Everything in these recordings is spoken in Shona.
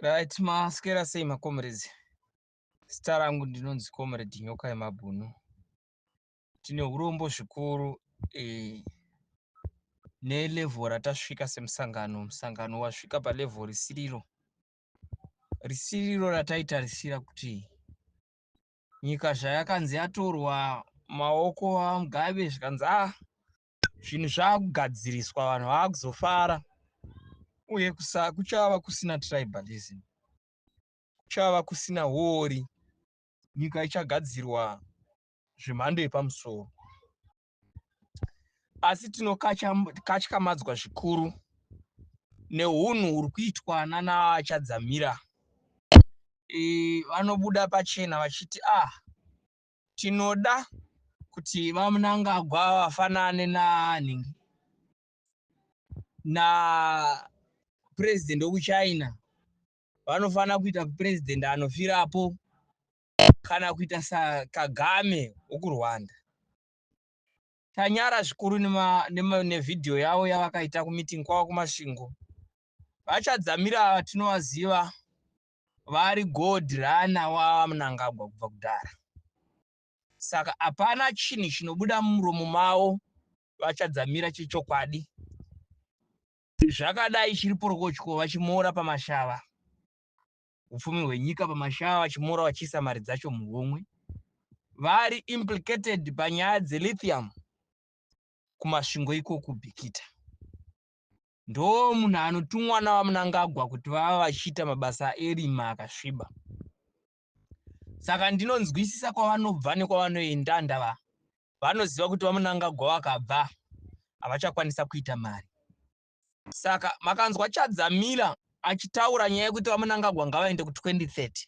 Right, maskera sei maComrades? Zita rangu ndinonzi Comrade Nyoka yeMabhunu. Tine urombo zvikuru eh, nelevel ratasvika semusangano. Musangano wasvika palevel risiriro. Risiriro rataitarisira kuti nyika zvayakanzi yatorwa maoko aMugabe zvikanzi ah zvinhu zvakugadziriswa vanhu vakuzofara uye kuchava kusina tribalism kuchava kusina huori nyika ichagadzirwa zvemhando yepamusoro asi tinokatyamadzwa zvikuru neunhu huri kuitwa nanachadzamira e, vanobuda pachena vachiti ah Tinoda kuti VaMnangagwa vafanane nanhingi napresident wekuChina vanofanira kuita president anofirapo kana kuita saKagame wekuRwanda. Tanyara zvikuru nevhidhiyo yavo yavakaita kumeeting kwavo kuMasvingo. VaChadzamira ava tinovaziva vari god runner waMnangagwa kubva kudhara saka hapana chinhu chinobuda mumuromo mavo vachadzamira chechokwadi zvakadai chiri porokotyo vachimoora pamashava upfumi hwenyika pamashava vachimoora vachiisa mari dzacho muhomwe vari implicated panyaya dzelithium kumasvingo iko kubhikita ndo munhu anotumwa naVaMnangagwa kuti vava vachiita mabasa erima akasviba. Saka ndinonzwisisa kwavanobva nekwavanoenda ndava vanoziva kuti VaMnangagwa vakabva havachakwanisa kuita mari. Saka makanzwa Chadzamila achitaura nyaya yekuti VaMnangagwa ngavaende ku 2030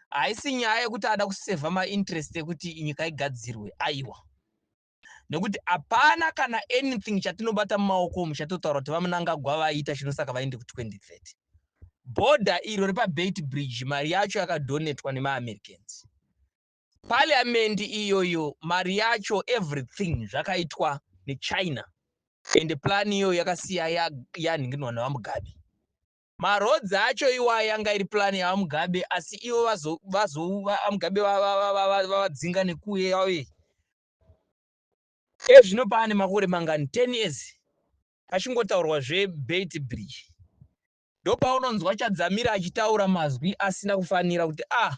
haisi nyaya yekuti ada kusevha mainterest ekuti nyika igadzirwe aiwa. nekuti hapana kana anything chatinobata mumaoko umu chatotaura kuti vamunangagwa vaita chinosaka vaende ku 2030 bhodha iro repabeit bridge mari yacho yakadhonetwa nemaamericans parliament iyoyo mari yacho everything zvakaitwa nechina ende plani iyoyo yakasiya yanhinginwa nevamugabe Ma roads acho iwaya yanga iri plan ya Mugabe asi ivo vazo vazo Mugabe vavadzinga nekuuye yave ezvino paane makore mangani 10 years pachingotaurwa zve bait bridge ndopaunonzwa Chadzamira achitaura mazwi asina kufanira kuti ah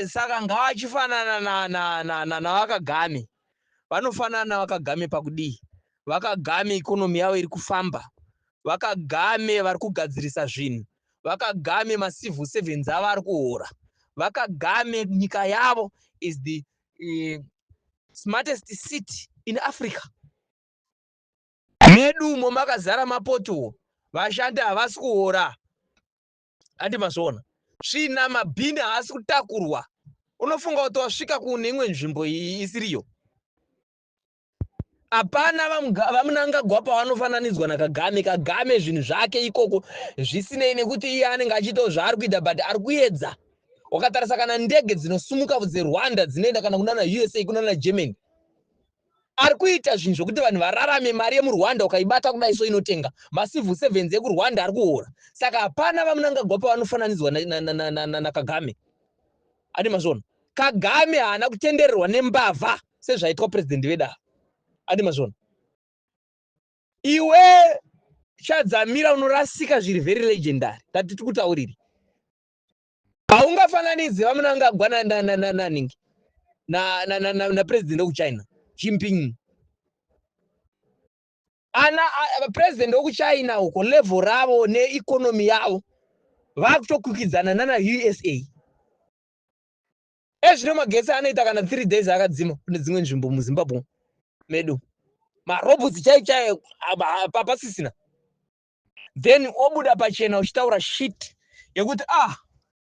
Saka ngavachifanana na, na, na, na, naVaKagame. Vanofanana naVaKagame pakudii? VaKagame ikonomi yavo iri kufamba. VaKagame vari kugadzirisa zvinhu. VaKagame macivil servants avo ari kuhora. VaKagame nyika yavo is the uh, smartest city in Africa. Medu umo makazara mapotuwo. Vashandi havasi kuhora. Handi mazviona svina mabhini haasi kutakurwa unofunga kuti wasvika kune imwe nzvimbo isiriyo hapana vamunangagwa pavanofananidzwa nakagame kagame zvinhu zvake ikoko zvisinei nekuti iye anenge achiitawo zvaari kuita but ari kuedza wakatarisa kana ndege dzinosumuka dzerwanda dzinoenda kana kunana usa kunana germany Ari kuita zvinhu zvekuti vanhu vararame, mari yemuRwanda ukaibata kudai so inotenga macivil servants ekuRwanda ari kuhora saka hapana vaMnangagwa pavanofananidzwa naKagame. Adi mazvona Kagame haana kutendererwa nembavha sezvaitwa president vedu ava. Adi mazvona iwe Chadzamira unorasika zviri very legendary tatiti kutauriri haungafananidze vamunangagwa nanananananhingi napresident wekuchina chimping ana president wekuchina uko level ravo neeconomy yavo vakutokwikwidzana nana usa ezvino magetsi anoita kana three days akadzima kune dzimwe nzvimbo muzimbabwe medu marobotsi chaichaye papasisina then obuda pachena uchitaura shit yekuti ah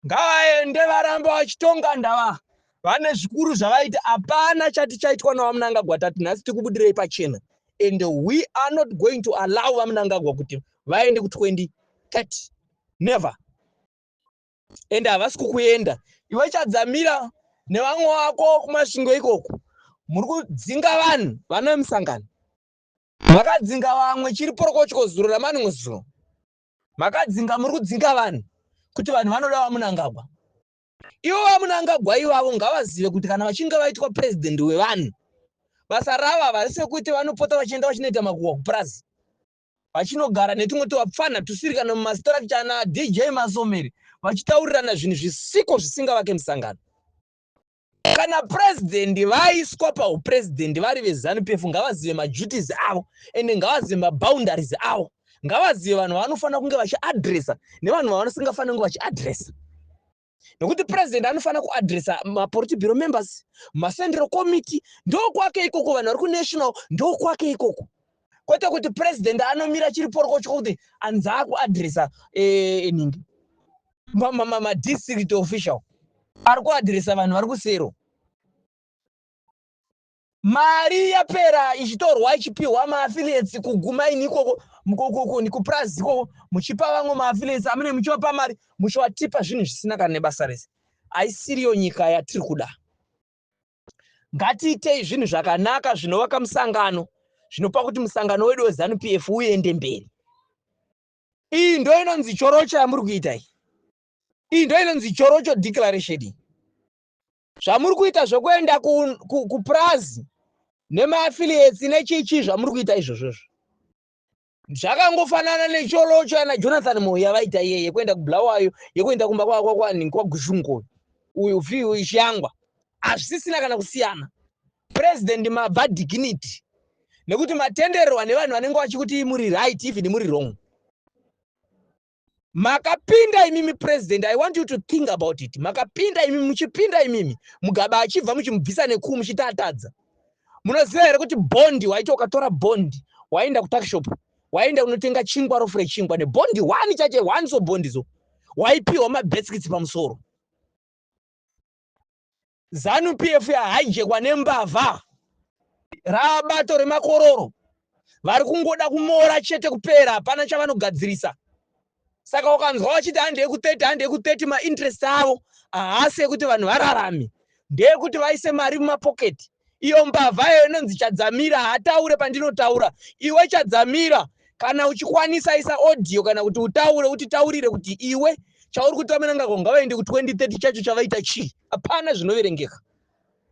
ngavaende varamba vachitonga ndava vane zvikuru zvavaita hapana chati chaitwa navamunangagwa tati nhasi tikubudirei pachena and we are not going to allow vamunangagwa kuti vaende ku 2030 never and havasi kukuenda iwe chadzamira nevamwe vako kumasvingo ikoko muri kudzinga vanhu vanoe musangano Makadzinga vamwe chiri porokotyo zuro ramanwe zuro. Makadzinga muri kudzinga vanhu kuti vanhu vanoda vamunangagwa. Ivo vamunangagwa ivavo ngavazive kuti kana vachinge vaitwa president wevanhu basa ravo havasi sekuti vanopota vachienda vachinoita makuhwa kupurazi vachinogara netumwe tuvapfanha tusiri kana mumastructure ana dj masomeri vachitaurirana zvinhu zvisiko zvisingavake musangano kana president vaiswa paupresident vari vezanu pefu ngavazive maduties avo ende ngavazive maboundaries avo ngavazive vanhu vanofanira kunge vachiadressa nevanhu vavanosingafanira kunge vachiadressa nokuti president anofanira kuadressa mapolitibiro members macentral committee ndokwake ikoko vanhu vari kunational ndokwake ikoko kwete kuti president anomira chiri porokotyo kuti anzi akuadresa eh, eningi madistrict official ari kuadresa vanhu vari kusero mari yapera ichitorwa ichipiwa maaffiliates kuguma ini ikoko kupurazi ikoko muchipa vamwe maaffiliates amune muchivapa mari muchivatipa zvinhu zvisina kana nebasa rese haisiriyo nyika yatiri kuda Ngatiitei zvinhu zvakanaka zvinovaka musangano zvinopa kuti musangano wedu weZanu PF uende mberi. Iyi ndo inonzi chorocho yamuri kuita iyi. Iyi ndo inonzi chorocho declaration iyi. Zvamuri kuita zvekuenda kupurazi ku, ku nemaaffiliates nechichi zvamuri kuita izvozvozvo. zvakangofanana necholocho yana jonathan moyo yavaita iye yekuenda kubulawayo yekuenda kumba kwakwakwani kwagushungo uyu fiu ishangwa hazvisisina kana kusiyana president mabva dignity nekuti matendererwa nevanhu vanenge vachikuti muri right even muri wrong makapinda imimi president i want you to think about it makapinda imimi muchipinda imimi mugaba achibva muchimubvisa nekuu muchiti atadza munoziva here kuti bondi waiti ukatora bondi waenda kutakshop waenda unotenga chingwa rofu rechingwa nebondi one chache one so bondi so waipiwa mabeskits pamusoro Zanu PF ya hijackwa nembavha rabato remakororo vari kungoda kumora chete kupera hapana chavanogadzirisa saka ukanzwa vachiti handi yeku 30 handi yeku 30 mainterest avo haasi ekuti vanhu vararame ndeekuti vaise mari mumapoketi Iyo mbavha yayo inonzi Chadzamira haataure pandinotaura. Iwe Chadzamira, kana uchikwanisa isa audio kana kuti utaure utitaurire kuti iwe chauri kuti vamenangako ngavaende ku 2030 chacho chavaita chii? Hapana zvinoverengeka.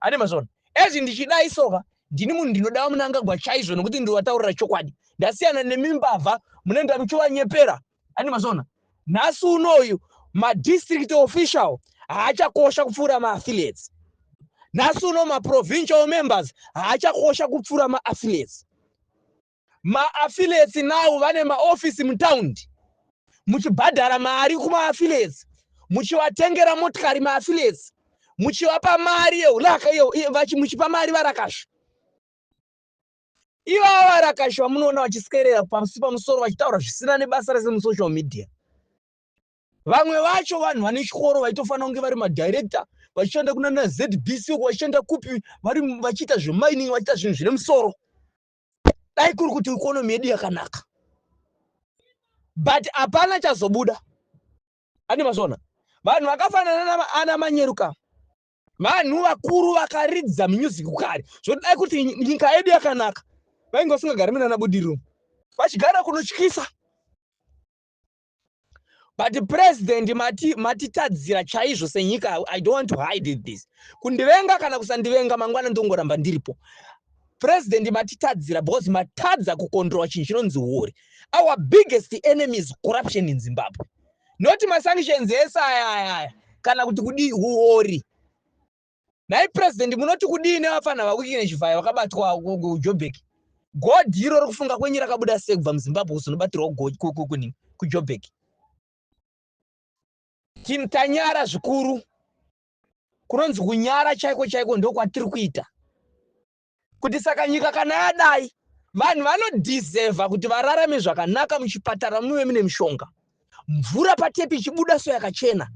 Ane mazvona. Ezvi ndichidai soka ndini munhu ndinoda vamunangagwa chaizvo nokuti ndovataurira chokwadi. Ndasiyana nemimbavha munenda muchivanyepera ani mazona nhasi unoyu madistrict official haachakosha kupfuura maaffiliates nhasi uno maprovincial members haachakosha kupfuura maaffiliates maaffiliates now vane maofisi mutaundi muchibhadhara mari kumaaffiliates muchivatengera motikari maaffiliates muchivapa mari yeuraka muchipa mari varakasha Ivava varakashi vamunoona vachiskerera pasi pamusoro vachitaura zvisina nebasa rese musocial media. Vamwe vacho vanhu vane chikoro vaitofanira kunge vari madirector vachishanda kuna naZBC uko vachishanda kupi vari vachiita zvemining vachiita zvinhu zvine musoro. Dai kuri kuti economy yedu yakanaka. But hapana chazobuda. Ane mazona. Vanhu vakafanana ana manyeruka. vanhu vakuru vakaridza music kare zvodai kuti nyika yedu yakanaka vainge vasingagari munana budiriro vachigara kunotyisa but president mati matitadzira chaizvo senyika i don't want to hide this kundivenga kana kusandivenga mangwana ndongoramba ndiripo president matitadzira because matadza kukontrola chinhu chinonzi huori our biggest enemies corruption in zimbabwe not masanctions ese aya aya aya kana kuti kudii huori nhai president munoti kudii nevafana vakuiki nechivhayo vakabatwa kujobek god iro rikufunga kwenyu rakabuda sei kubva muzimbabwe kuzonobatirwa kukuni kujobek tim tanyara zvikuru kunonzi kunyara chaiko chaiko ndokwatiri kuita kuti saka nyika kana yadai vanhu vanodhizevha kuti vararame zvakanaka muchipatara muve mune mishonga mvura patepi ichibuda so yakachena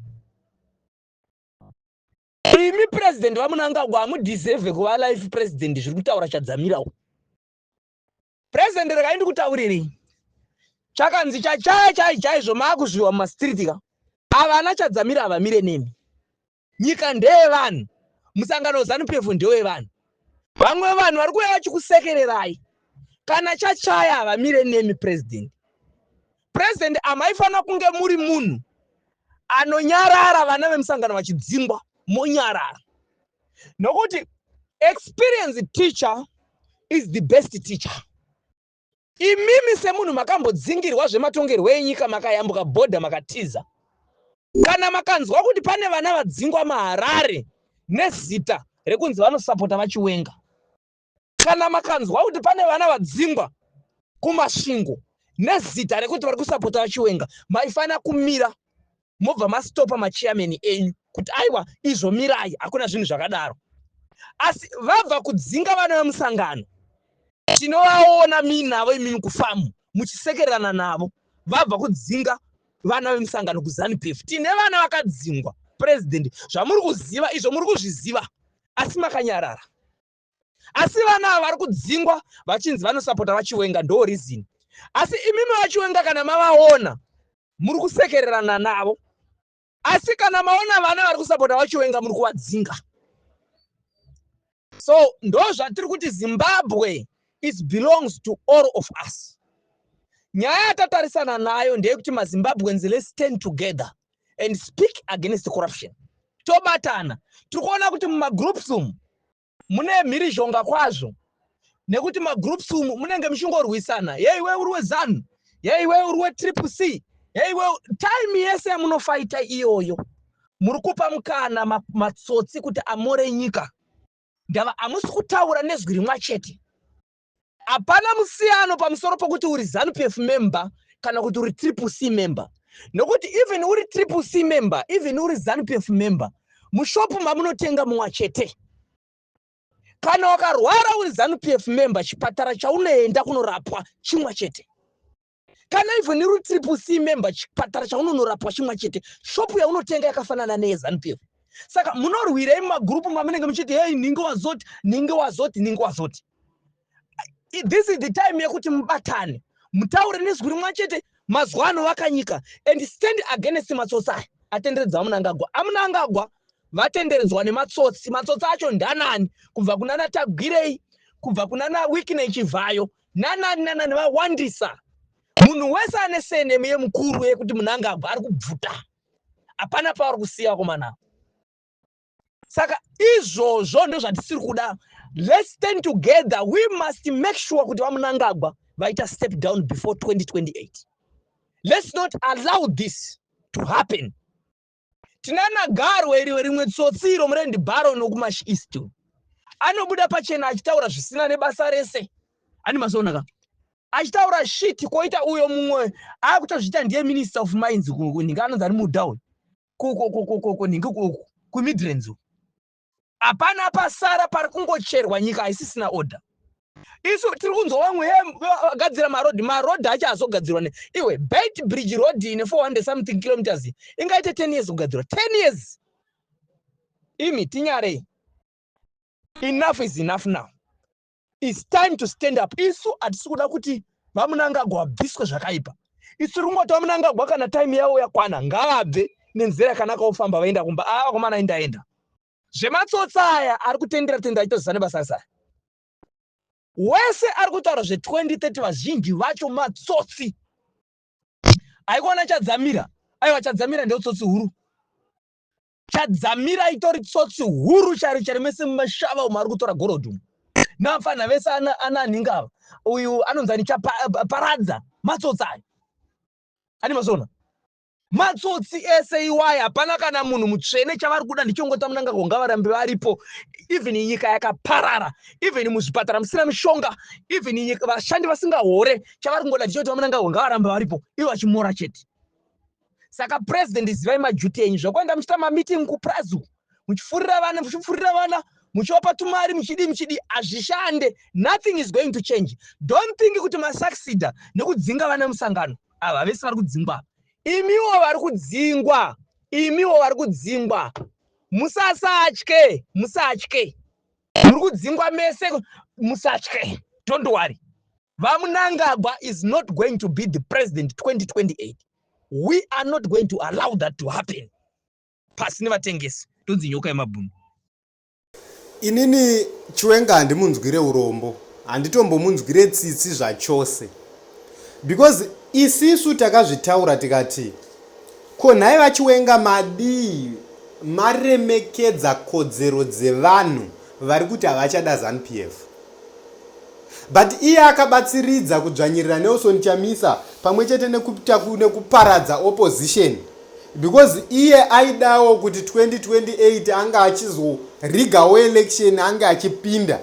imi purezidhendi vamunangagwa hamudhizevhe kuva life purezidhendi zviri kutaura chadzamirawo purezidhendi rekai ndikutaurirei chakanzi chachaya chai chaizvo maakuzviwa mumastiriti ka avana chadzamira havamire nemi Nyika ndeye vanhu, musangano Zanu PF ndewe vanhu. Vamwe vanhu vari kuuya vachikusekererai kana chachaya havamire nemi president. President amaifanira kunge muri munhu anonyarara vana vemusangano vachidzingwa monyarara nokuti experience teacher is the best teacher. Imimi semunhu makambodzingirwa zvematongerwo enyika makayambuka border makatiza. Kana makanzwa kuti pane vana vadzingwa maharare nezita rekunzi vanosapota vachiwenga. Kana makanzwa kuti pane vana vadzingwa kumasvingo nezita rekuti vari kusapota vachiwenga maifanira kumira mobva mastopa machairman enyu kuti aiwa izvo mirai hakuna zvinhu zvakadaro asi vabva kudzinga vana vemusangano tinovaona minavo imimi kufamu muchisekererana navo vabva kudzinga vana vemusangano kuzanupf tine vana vakadzingwa president zvamuri kuziva izvo muri kuzviziva asi makanyarara asi vana ava vari kudzingwa vachinzi vanosapota vachiwenga ndo reason asi imimi vachiwenga kana mavaona muri kusekererana navo asi kana maona vana vari kusapota vachiwenga muri kuvadzinga so ndo zvatiri kuti zimbabwe is belongs to all of us nyaya yatatarisana nayo ndeyekuti mazimbabweans let's stand together and speak against corruption tobatana tiri kuona kuti mumagroups umu mune mhirizhonga kwazvo nekuti magroups umu munenge muchingorwisana yei we uri wezanu yei we uri wetriple c yei we time yese yamunofaita iyoyo muri kupa mukana matsotsi kuti amore nyika ndava hamusi kutaura nezwi rimwa chete Hapana musiyano pamusoro pokuti uri Zanu-PF member kana kuti uri Triple C member nokuti even uri Triple C member, even uri Zanu-PF member, mushop mamunotenga mumwa chete. Kana wakarwara uri Zanu-PF member, chipatara chaunoenda kunorapwa chimwa chete. kana even iri triple c member chipatara chaunonorapwa chimwa chete shopu yaunotenga yakafanana neyezanupf saka munorwirei mumagurupu mamunenge muchiti hei ninge wazoti ninge wazoti ninge wazoti this is the time yekuti mubatane mutaure nezwi rimwa chete mazuva ano vakanyika and stand against matsotsi aya atenderedza vamunangagwa amunangagwa vatenderedzwa nematsotsi matsotsi acho ndanani kubva kunana tagwirei kubva kunana wikine chivhayo nanani nanani vawandisa munhu wese ane senemu yemukuru yekuti munangagwa ari kubvuta hapana paari kusiya vakomana saka izvozvo ndozvatisiri kuda let's stand together we must make sure kuti vamunangagwa vaita step down before 2028 let's not allow this to happen Tinana garwe iri rimwe tsotsi iro murendi baron nokumash east anobuda pachena achitaura zvisina nebasa rese ani masoonaka achitaura shit koita uyo mumwe akutozviita ndiye minister of mines nhinga anonzi ari mudown koko koko koko nhingi koko kumidrands Hapana pasara pari kungocherwa nyika haisisina order. Isu tiri kunzwa vamwe vagadzira maroad maroad acho azogadzirwa ne iwe bait bridge road ine 400 something kilometers ingaite 10 years kugadzirwa 10 years imi tinyarei enough is enough now It's time to stand up. Isu hatisi kuda kuti vamunangagwa vabviswe zvakaipa. Isu tiri kungoti vamunangagwa kana time yavo yakwana ngaabve nenzira yakanaka ofamba vaenda kumba. Ava ah, vakomana indaenda. Zvematsotsa aya ari kutendera tendera achitoziva nebasa rese aya. Wese ari kutaura zve 2030 vazhinji vacho matsotsi. Haikona chadzamira. Aiwa chadzamira ndeutsotsi huru. Chadzamira itori tsotsi huru chari chari mese mumashava umo ari kutora gorodhi umo navapfanha vese ana ana anhinga ava uyu anonzi ani chaparadza matsotsi ayo ani mazona matsotsi ese iwaya hapana kana munhu mutsvene chavari kuda ndichongota munangagwa ngavarambe varipo even nyika yakaparara even muzvipatara musina mishonga even vashandi vasingahore chavari kungoda ndichongota munangagwa ngavarambe varipo ivo vachimora chete saka president zivai majuti enyu zvakuenda muchiita mameeting kuprazu muchifurira vana muchifurira vana muchivapa tumari muchidii muchidii hazvishande nothing is going to change don't think kuti masuccida nekudzinga vana musangano ava vese vari kudzingwa imiwo vari kudzingwa imiwo vari kudzingwa musasatye musatye muri kudzingwa mese musatye don't worry VaMnangagwa is not going to be the president 2028. We are not going to allow that to happen. Pasi nevatengesi tonzi nyoka yemabhunu. Inini Chiwenga handimunzwire urombo, handitombomunzwire tsitsi zvachose because isisu takazvitaura tikati ko nhai vachiwenga madii maremekedza kodzero dzevanhu vari kuti havachada zanupf But iye akabatsiridza kudzvanyirira Nelson Chamisa pamwe chete nekuita nekuparadza opposition because iye aidawo kuti 2028 ange achizorigawo election ange achipinda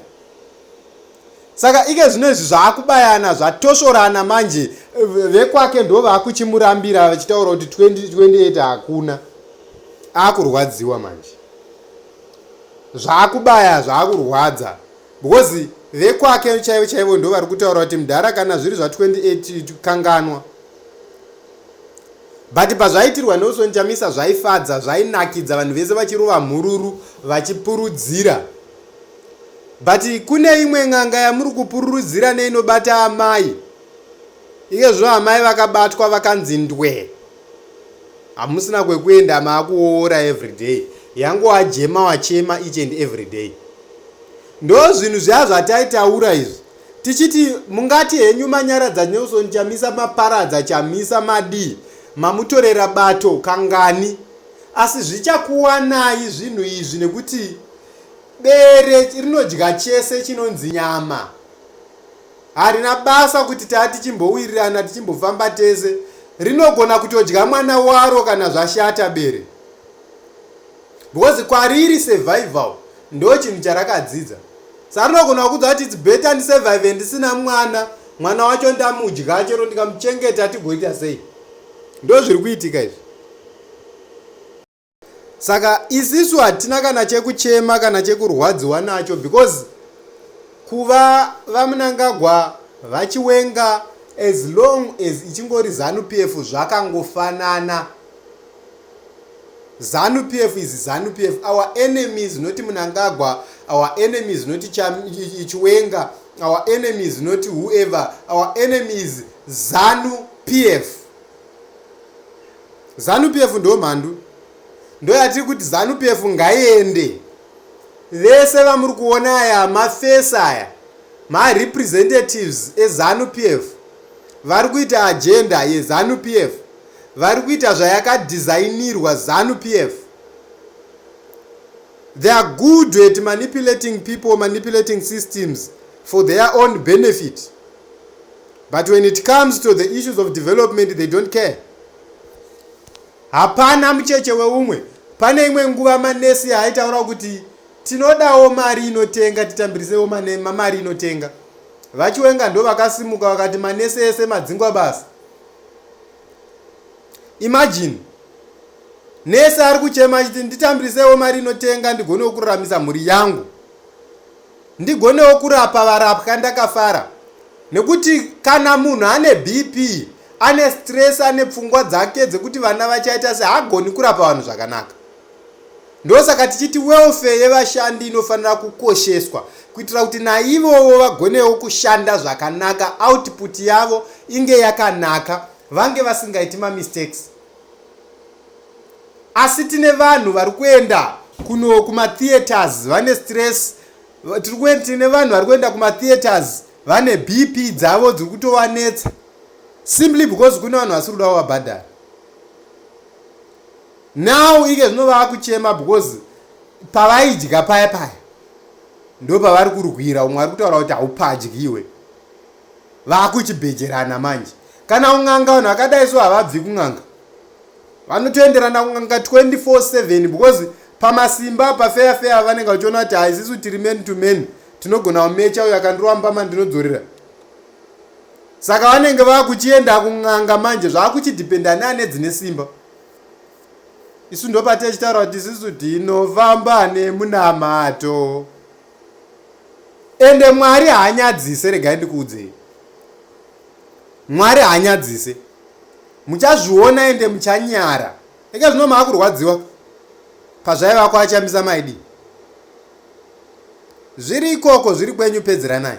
saka ike zvino izvi zvaakubayana zvatosvorana manje vekwake ndo vaakuchimurambira vachitaura kuti 2028 hakuna akurwadziwa manje zvaakubaya zvaakurwadza because vekwake chaivo chaivo ndo vari kutaura kuti mdhara kana zviri zva 28 kanganwa but pazvaitirwa nelson chamisa zvaifadza zvainakidza vanhu vese vachirova mhururu vachipurudzira but kune imwe n'anga yamuri kupururudzira neinobata amai ikezvo amai vakabatwa vakanzi ndwee Hamusina kwekuenda maakuoora everyday. Yangowajema wachema each and everyday. Ndozvinhu zviya zvataitaura izvi. Tichiti mungati henyu manyaradza Nelson Chamisa maparadza Chamisa madii mamutorera bato kangani. Asi zvichakuwanai zvinhu izvi nekuti bere rinodya chese chinonzi nyama. Harina basa kuti taa tichimbowirirana tichimbofamba tese, rinogona kutodya mwana waro kana zvashata bere. Because kwariri survival ndo chinhu charakadzidza. Sa rinogona kukudza kuti it's better ndi survive ndisina mwana, mwana wacho ndamudya chero ndikamuchengeta tigoita sei. Ndozviri kuitika izvi. saka isisu hatina kana chekuchema kana chekurwadziwa nacho because kuva vamunangagwa vachiwenga as long as ichingori zanu p f zvakangofanana zanu p f is zanu p f our enemies not munangagwa our enemies not chiwenga our enemies not whoever our enemies zanu p f zanu pf ndo mhandu ndoyatiri kuti zanu pf ngaiende vese vamuri kuona aya mafesi aya marepresentatives ezanu pf vari kuita agenda yezanu pf vari kuita zvayakadhizainirwa zanu pf they are good at manipulating people manipulating systems for their own benefit But when it comes to the issues of development they don't care. Hapana mucheche weumwe. Pane imwe nguva manesi yaitaura kuti tinodawo mari inotenga titambirisewo mari inotenga. VaChiwenga ndo vakasimuka vakati manesi ese madzingwa basa. Imagine nesi ari kuchema achiti nditambirisewo mari inotenga ndigone kuraramisa mhuri yangu. ndigonewo kurapa varapwa ndakafara nekuti kana munhu ane bp ane stress ane pfungwa dzake dzekuti vana vachaita se hagoni kurapa vanhu zvakanaka ndosaka tichiti welfare yevashandi inofanira kukosheswa kuitira kuti naivowo vagonewo kushanda zvakanaka output yavo inge yakanaka vange vasingaiti mamistakes asi tine vanhu vari kuenda kuno kumatheaters vane stress tiri kuenda tine vanhu vari kuenda kumatheaters vane bp dzavo dziri kutovanetsa simply because kune vanhu vasiri kuda kuvabhadhara now ike zvino vava kuchema because pavaidya paya paya ndo pavari kurwira umwe ari kutaura kuti haupadyiwe vakuchibhejerana manje kana kun'anga vanhu vakadai so havabvi kun'anga vanotoenderana kun'anga 24/7 because pamasimba pafeya feya vanenge vachiona kuti haisisu tiri men to men tinogona kumecha uyo akandirova mbama ndinodzorera saka vanenge vakuchienda kun'anga manje zvakuchidhipenda ne ane dzine simba isu ndopatechitaura kuti isisu tinofamba nemunamato ende mwari haanyadzise regai ndikuudzei mwari haanyadzise muchazviona ende muchanyara eka zvino maakurwadziwa pazvaiva kuachambisa maidi zviri ikoko zviri kwenyu pedzeranai